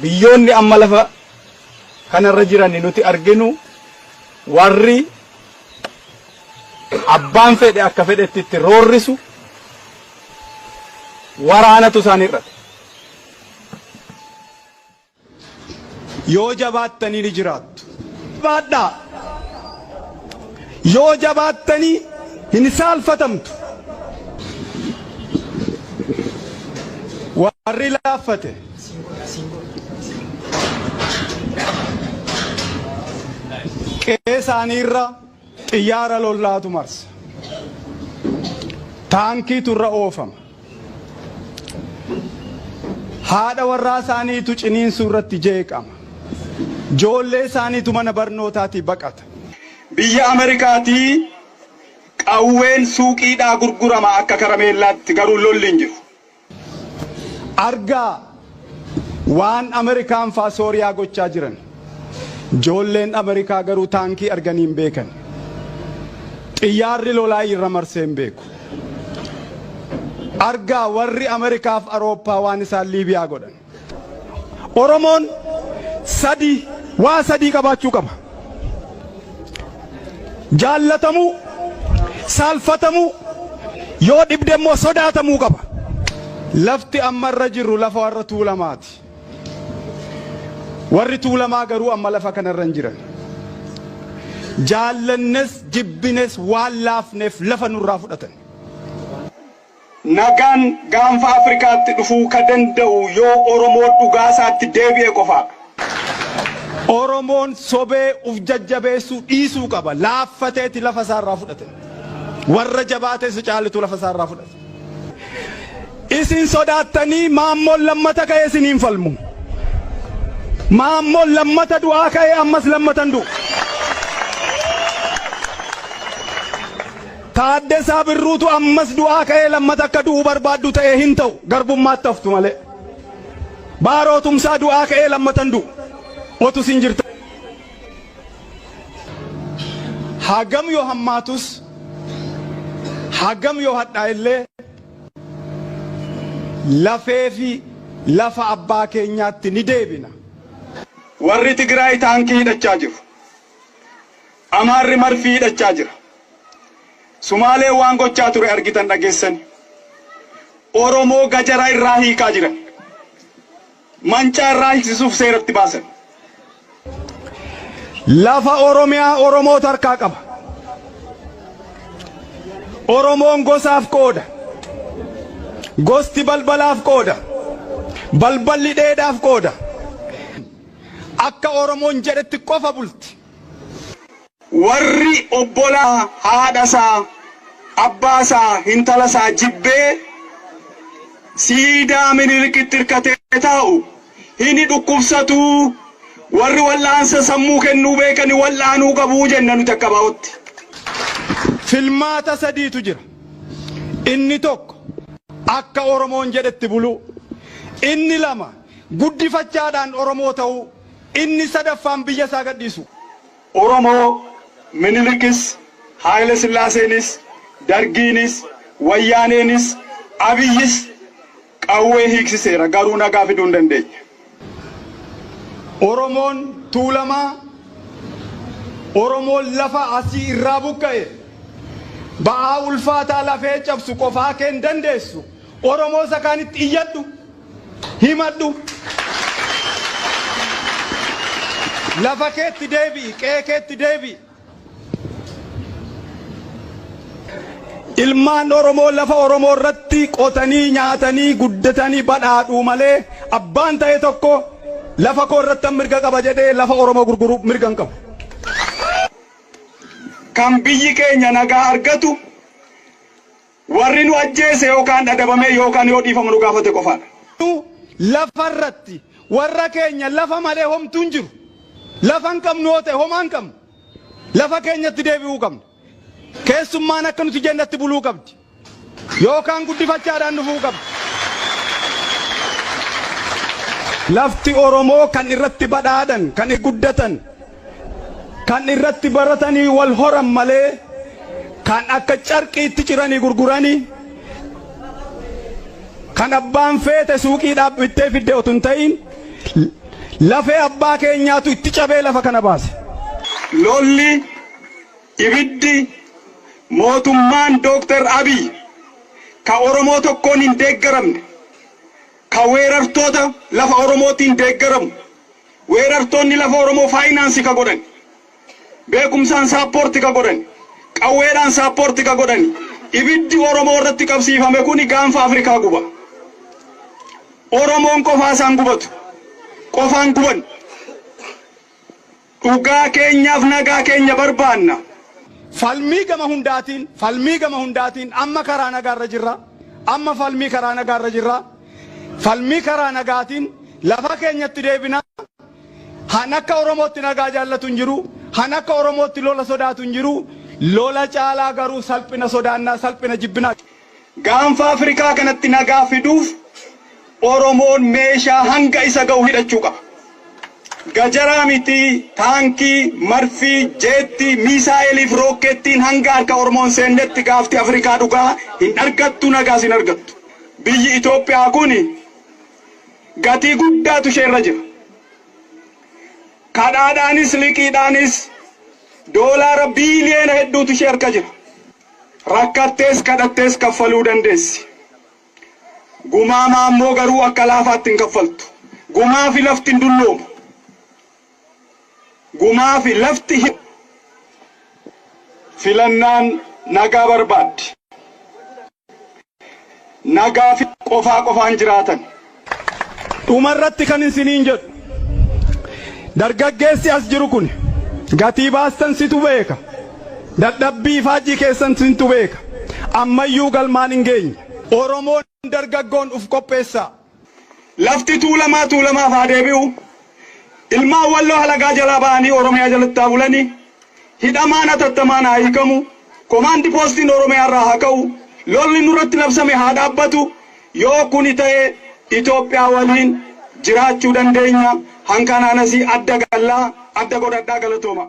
Biyyoonni amma lafa kana irra jiran nuti arginu warri abbaan fedhe akka fedhetti itti roorrisu waraanatu isaan hir'ate. Yoo jabaattanii ni jiraattu. Jabaadhaa! Yoo jabaattanii hin saalfatamtu. Warri laaffate. Qe'ee isaanii irraa. Xiyyaara lollaatu marsa. Taankiitu irra oofama. Haadha warraa isaaniitu ciniinsuu irratti jeeqama. Joollee isaaniitu mana barnootaatii baqata. Biyya Amerikaatii qawween suuqiidhaa gurgurama akka karameellaatti, garuu lolli hin jiru. Argaa waan Amerikaan faa Sooriyaa gochaa jiran. Joolleen Amerikaa garuu taankii arganii hin beekan. Xiyyaarri lolaa irra marsee hin beeku. Argaa warri Amerikaaf Arooppaa waan isaan Liibiyaa godhan. Oromoon sadii waa sadii qabaachuu qaba. Jaallatamuu, saalfatamuu, yoo dhibde immoo sodaatamuu qaba. Lafti amma irra jirru lafa warra Tuulamaati. Warri Tuulamaa garuu amma lafa kanarra hin jiran. Jaallannes jibbines waan laafneef lafa nurraa fudhatan. Nagaan gaanfa Afrikaatti dhufuu ka danda'u yoo Oromoo dhugaa isaatti deebi'e qofaadha. Oromoon sobee uf jajjabeessuu dhiisuu qaba. Laaffateeti lafa isaa irraa fudhate. Warra jabaate isa caalutu lafa isaa irraa fudhate. Isin sodaattanii Maammoon lammata ka'ee isinii hin falmu. Maammoon lammata du'aa ka'ee ammas lammata hin du'u. Taaddasaa Birruutu ammas du'aa ka'ee lammata akka du'u barbaaddu ta'e hin ta'u garbummaatti haftu malee. Baaroo Tumsaa du'aa ka'ee lammata hin du'u. Otu isin jirta. Hagam yoo hammaatus hagam yoo hadhaa illee lafee fi lafa abbaa keenyaatti ni deebina. Warri Tigraay taankii hidhachaa jiru. Amaarri marfii hidhachaa jira. Sumaaleen waan gochaa ture argitan dhageessani. Oromoo gajara irraa hiikaa jiran. Mancaa irraa hiiksisuuf seeratti baasan. Lafa Oromiyaa Oromootu harkaa qaba. Oromoon gosaaf qooda. Gosti balbalaaf qooda. Balballi dheedhaaf qooda. Akka Oromoon jedhetti qofa bulti. Warri obbolaa haadha isaa, abbaa isaa, hintala isaa jibbee siidaa Minilikitti irkatee taa'u hini dhukkubsatu, warri wal'aansa sammuu kennuu beekani wal'aanuu qabu jenna nuti akka ABOtti. Filmaata sadiitu jira. Inni tokko akka Oromoon jedhetti buluu. Inni lama. guddifachaadhaan Oromoo ta'uu, inni sadaffaan biyya isaa gadhiisuu. Oromoo, Minilikis, Haayile Sillaaseenis, Dargiinis, Wayyaaneenis, Abiyyis qawwee hiiksiseera, garuu nagaa fiduu hin dandeenye. Oromoon, Tuulamaa, Oromoon lafa asii irraa buqqa'e, ba'aa ulfaataa lafee cabsu qofaa kee hin dandeessu, Oromoo isa kaanitti iyyadhu, himadhu. Lafa keetti deebi'i, qe'ee keetti deebi'i. Ilmaan Oromoo lafa Oromoo irratti qotanii nyaatanii guddatanii badhaadhuu malee abbaan ta'e tokko lafa koo irrattan mirga qaba jedhee lafa Oromoo gurguru mirga hin qabu. Kan biyyi keenya nagaa argatu Warri nu ajjeese yookaan adabamee yookaan yoo dhiifama nu gaafate qofaadha. Nu lafa irratti warra keenya lafa malee homtuu hin jiru. Lafa hin qabnu yoo ta'e homaa hin qabnu. Lafa keenyatti deebi'uu qabna. Keessummaan akka nuti jennatti buluu qabdi. Yookaan guddifachaadhaan dhufuu qabdi. Lafti Oromoo kan irratti badhaadhan, kan irratti guddatan, Kan irratti baratanii wal horan malee kan akka carqiitti ciranii gurgurani kan abbaan feete suuqiidhaaf bittee fidde otu hin ta'iin lafee abbaa keenyaatu itti cabee lafa kana baase. Lolli, ibiddi, mootummaan Dooktar Abiy ka Oromoo tokkoon hin deeggaramne, ka weerartoota lafa Oromootiin deeggaramu, Weerartoonni lafa Oromoo faayinaansi ka godhani, beekumsaan saappoorti ka godhani, qawweedhaan saappoorti ka godhani, ibiddi Oromoo irratti qabsiifame kuni gaanfa Afrikaa guba. Oromoon qofaa isaa hin gubatu. Qofaa hin gubannu. Dhugaa keenyaaf nagaa keenya barbaanna. Falmii gama hundaatiin, falmii gama hundaatiin, amma karaa nagaa irra jirra, amma falmii karaa nagaa irra jirra, Falmii karaa nagaatiin lafa keenyatti deebina. Han akka Oromootti nagaa jaallatu hin jiru. Han akka Oromootti lola sodaatu hin jiru. Lola caalaa garuu salphina sodaannaa, salphina jibbinaa. Gaanfa Afrikaa kanatti nagaa fiduuf Oromoon meeshaa hanga isa gahu hidhachuu qaba. Gajaraa miti, taankii, marfii, jeettii, miisaa'eelii fi rookkeettiin hanga harka Oromoo hin seennetti gaafti Afrikaa dhugaa hin argattu, nagaas hin argattu. Biyyi Itoophiyaa kun gatii guddaatu ishee irra jira. Kadhaadhaanis liqiidhaanis doolaara biiliyoona hedduutu ishee harka jira. Rakkattees kadhattees kaffaluu dandeessi. Gumaa maammoo garuu akka laafaatti hin kaffaltu. Gumaafi lafti hin dulloomu. Gumaafi lafti hin Filannaan nagaa barbaaddi. nagaa fi qofaa qofaan jiraatan. Dhuma irratti kan isiniin jedhu dargaggeessi as jiru kuni gatii baastan situ beeka, dadhabbii ifaajjii keessan sintu beeka, ammayyuu galmaan hin geenye. Oromoon dargaggoon uf qopheessaa! Lafti Tuulamaa Tuulamaaf haa deebi'u! Ilmaan Walloo halagaa jalaa ba'anii Oromiyaa jalatti haa bulani! Hidhamaan hatattamaan haa hiikamu! Komaandi Poostiin Oromiyaa irraa haa ka'u! Lolli nurratti labsame haa dhaabbatu! Yoo kuni ta'e Itoophiyaa waliin jiraachuu dandeenya! Hankanaan asii adda galla! Adda godhadhaa! Galatoomaa!